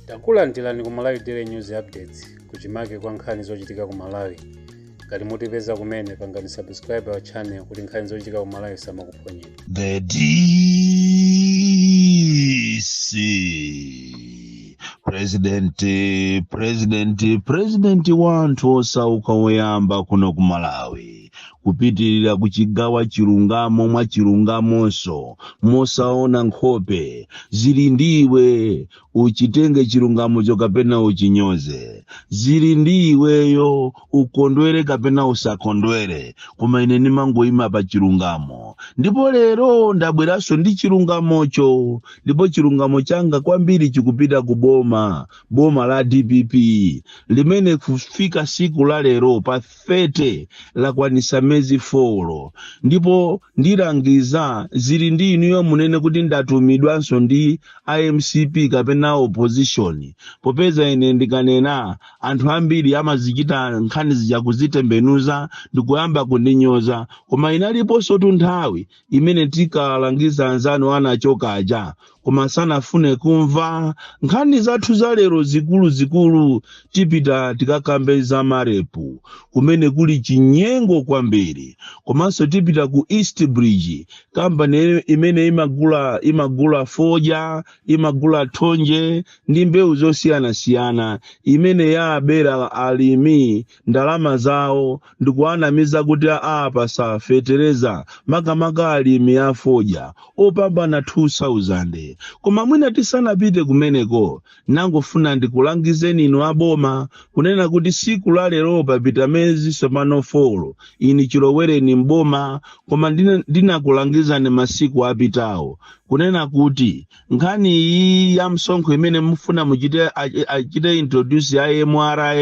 takulandirani ku malawi daily news updates kuchimake kwa nkhani zochitika ku malawi ngati mutipeza kumene pangani subscribe our channel kuti nkhani zochitika ku malawi samakuphonyera The DC President wanthu osauka woyamba kuno ku Malawi kupitirira kuchigawa chilungamo mwa chilungamonso mosaona nkhope zili ndi iwe uchitenge chilungamocho kapena uchinyoze zili ndi iweyo ukondwere kapena usakondwere koma ine ndimangoyima pa chilungamo ndipo lero ndabweranso ndi chilungamocho ndipo chilungamo changa kwambiri chikupita ku boma boma la dpp limene kufika siku la lero pa 30 lakwanisa mezi 4 ndipo ndilangiza zili ndi inuyo munene kuti ndatumidwanso ndi mcp kapena opposition popeza ine ndikanena anthu ambiri amazichita nkhani zija kuzitembenuza ndikuyamba kundinyoza koma inaliponso tu nthawi imene tinkalangiza anzanu anachoka aja koma sanafune kumva nkhani zathu za lero zikuluzikulu tipita tikakambe za marepu kumene kuli chinyengo kwambiri komanso tipita ku east bridge kampani imene imagula imagula fodya imagula thonje ndi mbewu zosiyanasiyana imene yawabera alimi ndalama zawo ndikuwanamiza kuti awapasa fetereza makamaka alimi afodya opambana 2000 koma mwina tisanapite kumeneko nangofuna ndikulangizeni inu aboma kunena kuti siku la lero papita mezi sopano folo ini chilowereni m'boma koma ndinakulangizani masiku apitawo kunena kuti nkhani iyi ya msonkho imene mufuna muchite achite introduce ya mra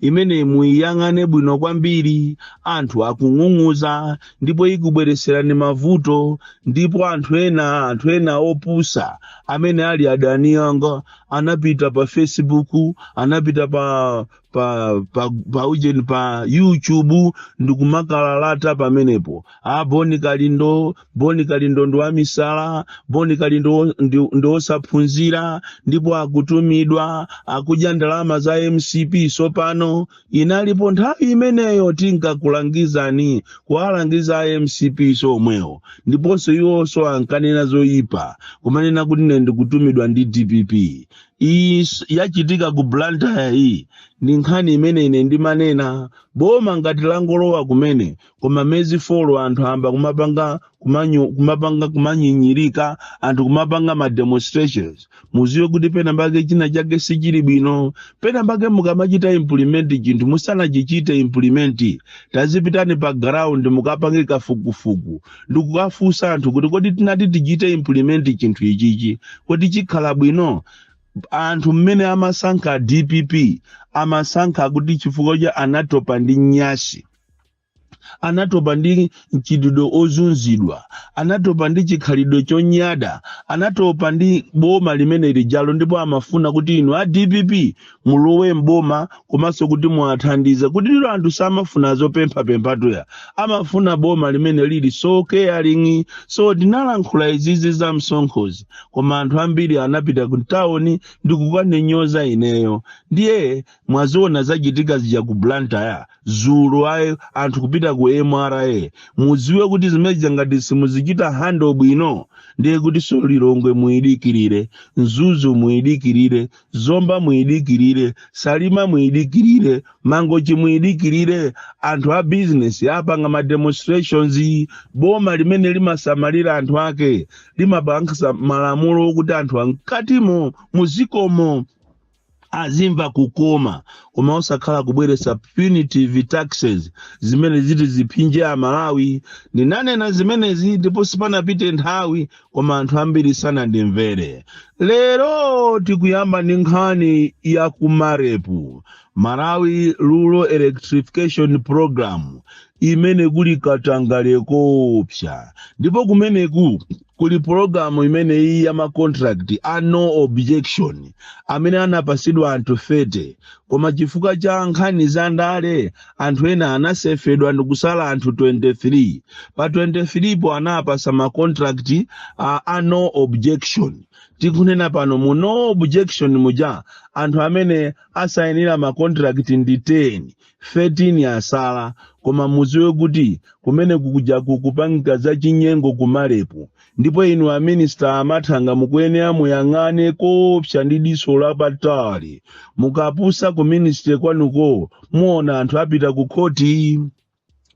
imene muyiyang'ane bwino kwambiri anthu akung'ung'uza ndipo ikubweretserani mavuto ndipo anthu ena anthu ena opusa amene ali adani anga anapita pa facebook anapita pa pa pa pa ujeni pa youtube ndikumalalata pamenepo a boni kalindo boni kalindo ndi wamisala boni kalindo wo- ndi- ndi wosaphunzira ndipo akutumidwa akudya ndalama za mcp sopano inalipo nthawi imeneyo tinkakulangizani kuwalangiza a mcp somwewo ndiponso iwonso ankanena zoyipa kumanena kuti ine ndikutumidwa ndi dpp iyi s- yachitika ku blantyre iyi ndi nkhani imene ine ndimanena boma ngati langolowa kumene koma mezi folo anthu ayamba kumapanga kumanyo, kumapanga kumanyinyirika anthu kumapanga ma demonstrations mudziwe kuti pena pake china chake sichili bwino pena pake mukamachita implement chinthu musanachichite implement tazipitani pa ground mukapange kafukufuku ndikukafunsa anthu kuti kodi tinati tichite implement chinthu ichichi kodi chikhala bwino anthu mmene amasankha dpp amasankha kuti chifukwa cha anatopa ndi nyansi anatopa ndi mchitidwe ozunzidwa anatopa ndi chikhalidwe chonyada anatopa ndi boma limene lijalo ndipo amafuna kuti inu a dpp mulowe mboma komanso kuti muwathandize kuti lero anthu samafuna zopemphapemphatuya amafuna boma limene lili so caring so ndinalankhula izizi za msonkhozi koma anthu ambiri anapita mtawuni ndi kukandinyoza ineyo ndiye mwaziona zachitika zija ku blantyre dzulo ayi anthu kupita ku mra mudziwe kuti zimenezi ngati simuzichita handle bwino ndiye kuti so lilongwe muyidikirire mzuzu muyidikirire zomba muyidikirire salima muyidikirire mangochi muyidikirire anthu a bizinesi apanga ma demonstrations boma limene limasamalira anthu ake limapanga malamulo okuti anthu a mkatimo mudzikomo azimva kukoma koma osakhala kubweretsa punitive taxes zimene ziti ziphinje amalawi ndinanena zimenezi ndipo sipanapite nthawi koma anthu ambiri sanandimvere lero tikuyamba ndi nkhani ya ku marep malawi rural electrification program imene kuli katangale koopsa ndipo kumeneku kuli pologalamu imene iyi ya macontract a no objection amene anapatsidwa anthu 30 koma chifukwa cha nkhani za ndale anthu ena anasefedwa ndikusala anthu 23 pa 23 po anawapatsa ma contract a, a no objection tikunena pano mu no objection muja anthu amene asayinira ma contract ndi 10 13 asala koma mudziwe kuti kumene kuja kukupangika za chinyengo ku marep Ndipo inu a Minister a Mathanga mukuyenera muyang'ane koopsa ndi diso lapatali. Mukapusa ku Ministry kwanuko muona anthu apita ku khoti.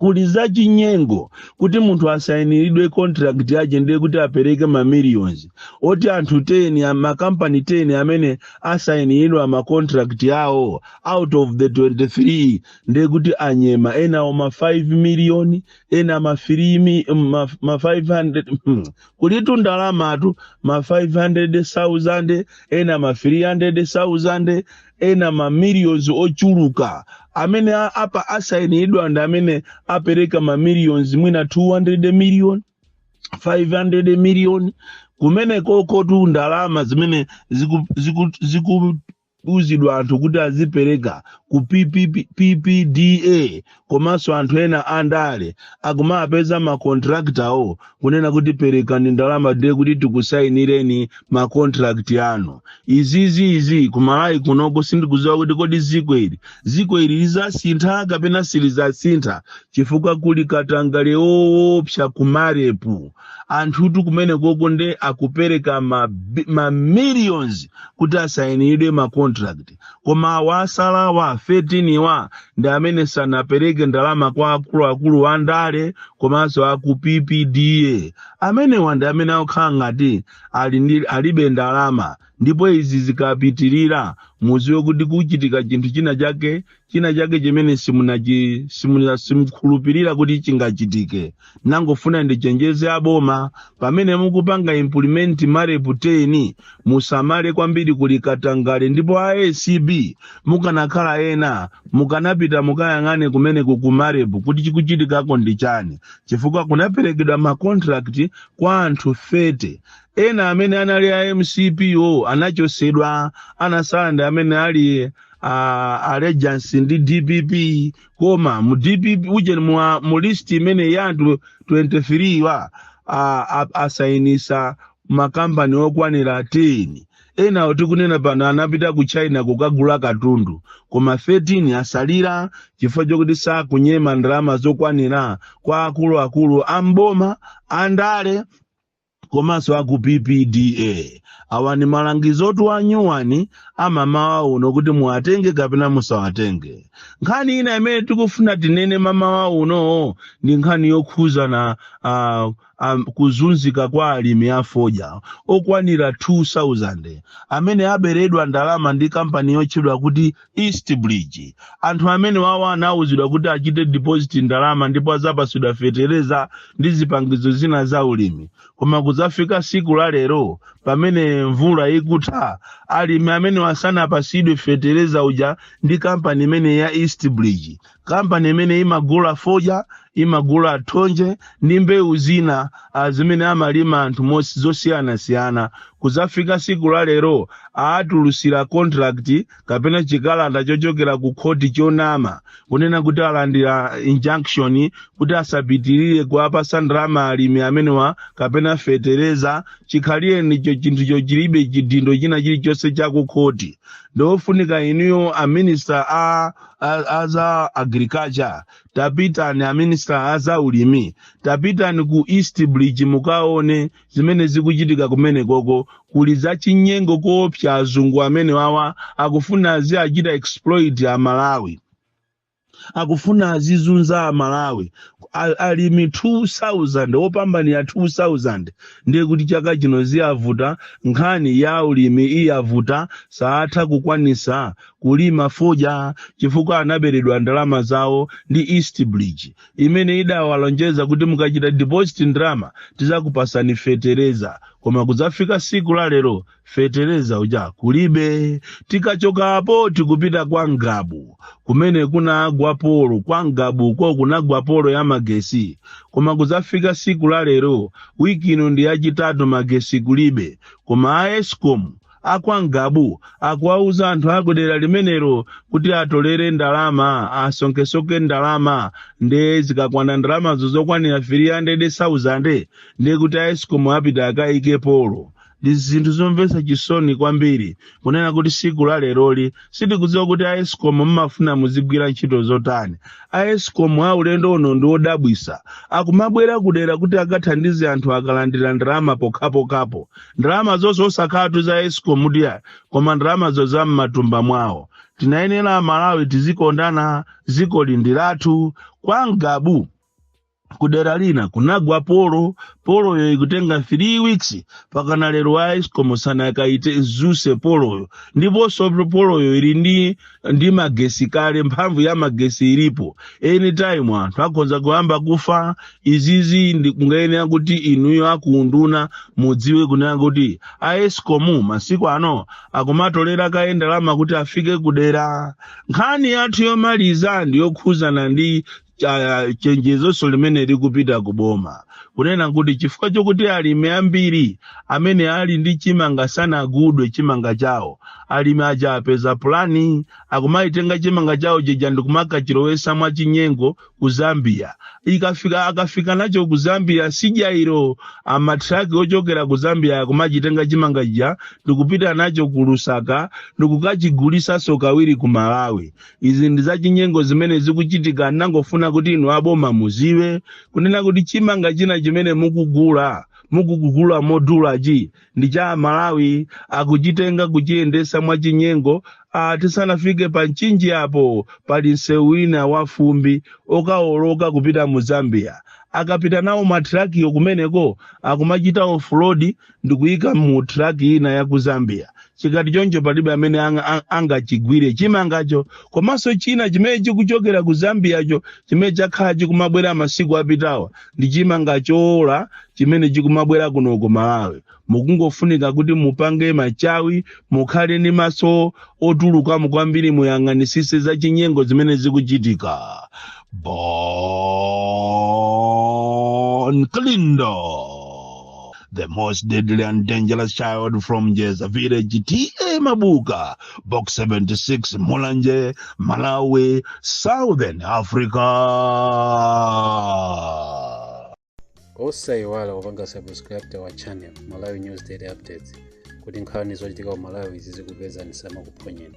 kuli zachinyengo kuti munthu asayiniridwe contract yake ndiye kuti apereke ma millions oti anthu 10 a- makampani 10 amene asayiniridwa ma contract yawo out of the 23 ndiye kuti anyema enawo ma 5 million ena ma 3 mi- ma, ma 500 hmm, kulitu ndalamatu ma 500,000 ena ma 300,000 ena ma millions ochuluka amene a- apa asainidwa ndi amene apereka ma millions mwina 200 million 500 million kumene kokotu ndalama zimene ziku, ziku, ziku kuuzidwa anthu kuti azipereka ku PPP ppda komanso anthu ena andale akumapeza makontraktawo kunena kuti perekani ndalama nde kuti tikusayinireni makontrakti anu izizi izi kumalawi kunoko sindikuziwa kuti kodi ziko ili ziko ili lizasintha kapena silizasintha chifukwa kuli katangale woopsa kumarepu anthutu kumene koko nde akupereka ma, bi- ma millions kuti asainidwe ma contract koma awa asalawa 13 wa ndi amene sanapereke ndalama kwa akuluakulu a ndale komanso aku ppda amenewa ndi amene akukhala ngati ali ndi- alibe ndalama ndipo izi zikapitirira muziwe kuti kuchitika chinthu china chake china chake chimene simunachi- simuna- simukhulupirira kuti chingachitike nangofuna ndichenjeze aboma pamene mukupanga implement marepu 10 musamale kwambiri kuli katangale ndipo a acb mukanakhala ena mukanapita mukayang'ane kumene kukumarepu kuti chikuchitikako ndi chani chifukwa kunaperekedwa makontrakti kwa anthu 30 ena amene anali a mcp wo anachosedwa anasala ndi amene ali a allegiance ndi dpp koma mu dpp uje mwa mu list imene ya anthu 23 wa a- a- asayinisa makampani okwanira 10 enawo tikunena pano anapita ku china kukagula katundu koma 13 asalira chifukwa chokuti sakunyema ndalama zokwanira kwa akuluakulu a mboma andale komanso aku ppda awa ni malangizo otuwa nyuwani amamawa uno kuti muwatenge kapena musawatenge nkhani ina imene tikufuna tinene mamawa uno ndi nkhani yokhuzana uh, um, kuzunzika kwa alimi afodya okwanira 2000 amene aberedwa ndalama ndi kampani yotchedwa kuti East Bridge. Anthu amenewawa anauzidwa kuti achite deposit ndalama ndipo adzapasidwa fetereza ndi zipangizo zina za ulimi. Koma kudzafika siku la lero pamene mvula ikutha, alimi amenewa sanapasidwe fetereza uja ndi kampani imeneyi ya East Bridge. kampani imene imagula fodya imagula thonje ndi mbewu zina ah, zimene amalima anthu mosi- zosiyanasiyana kudzafika siku la lero awatulutsira contract kapena chikalata chochokera ku khoti chonama kunena kuti alandira injunction kuti asapitirire kuwapasa ndalama alimi amenewa kapena fetereza chikhalirenicho chinthu chochilibe chidindo china chilichonse chakukhoti ndiofunika inuyo aminista a a- a za agriculture tapitani aminisita a za ulimi tapitani ku east bridge mukaone zimene zikuchitika kumenekoko kuli za chinyengo koopsa azungu amenewawa akufuna aziwachita exploit amalawi akufuna azizunza amalawi A- alimi 2000 opambana 2000 ndiye kuti chaka chino ziwavuta nkhani ya ulimi iwavuta saatha kukwanisa kulima fodya chifukwa anaberedwa ndalama zawo ndi east bridge imene idawalonjeza kuti mukachita deposit ndalama tizakupasani fetereza koma kudzafika siku la lero fetereza uja kulibe tikachoka apo tikupita kwa ngabu kumene kunagwa polo kwa ngabuko kunagwa polo ya magesi koma kudzafika siku la lero wiki ino ndi yachitatu magesi kulibe koma a escom A kwa Ngabu akuwauza anthu a kudera limenero kuti atolere ndalama asonkhesoke ndalama nde zikakwana ndalamazo zokwanira 300,000 nde kuti a escom apite akayike polo ndi zinthu zomvetsa chisoni kwambiri kunena kuti siku la leroli sitikudziwa kuti a escom mmafuna muzigwira ntchito zotani a escom a ulendo uno ndi odabwisa akumabwera kudera kuti akathandize anthu akalandira ndalama pokhapokhapo ndalama zonse osakhalatu za escom ndiye koma ndalamazo za m'matumba mwawo tinayenera amalawi tizikondana dzikoli ndi lathu kwa ngabu kudera lina kunagwa polo poloyo ikutenga 3 weeks pakana lero a escom sanakaidzutse poloyo ndiponso poloyo ili ndi ndi magesi kale mphamvu ya magesi ilipo anytime anthu akhoza kuyamba kufa izizi ndikungayenera kuti inuyo akuunduna mudziwe kunena kuti a escom masiku ano akumatolera kaye ndalama kuti afike kudera nkhani yathu yomaliza ndi yokhudzana ndi cha- chenjezonso limene likupita ku boma kunena kuti chifukwa chokuti alimi ambiri amene ali ndi chimanga sanagulidwe chimanga chawo alimi aja apeza pulani akumatenga chimanga chawo chija ndikumakachilowetsa mwachinyengo ku zambia ikafika akafika nacho ku zambia sijairo amatraki ochokera ku zambia akumachitenga chimanga chija ndikupita nacho ku lusaka ndikukachigulitsanso kawiri ku malawi izi ndi zachinyengo zimene zikuchitika ndangofuna kuti inu aboma muziwe kunena kuti chimanga china chimene mukugula mukugula modulachi ndi cha Malawi akuchitenga kuchiyendesa mwachinyengo ah, tisanafike pa mchinji apo pali msewu wina wa fumbi okawoloka kupita mu zambia akapita nawo mathirakiyo kumeneko akumachita ofulodi ndikuyika mu track ina ya ku zambia chikati choncho palibe amene angachigwire chimangacho komanso china chimene chikuchokera ku zambiacho chimene chakhala chikumabwera masiku apitawa ndi chimanga chowola chimene chikumabwera kuno ku malawi kukungofunika kuti mupange machawi mukhale ndi maso otulukamo kwambiri muyang'anisise za chinyengo zimene zikuchitika Bon Kalindo, the most deadly and dangerous child from Jeza village, T.A. Mabuka, Box 76, Mulanje, Malawi, Southern Africa. osaiwala kupanga subscribe wa channel malawi news daily updates kuti nkhani zochitika ku malawi zizikupezani zisamakuphonyeni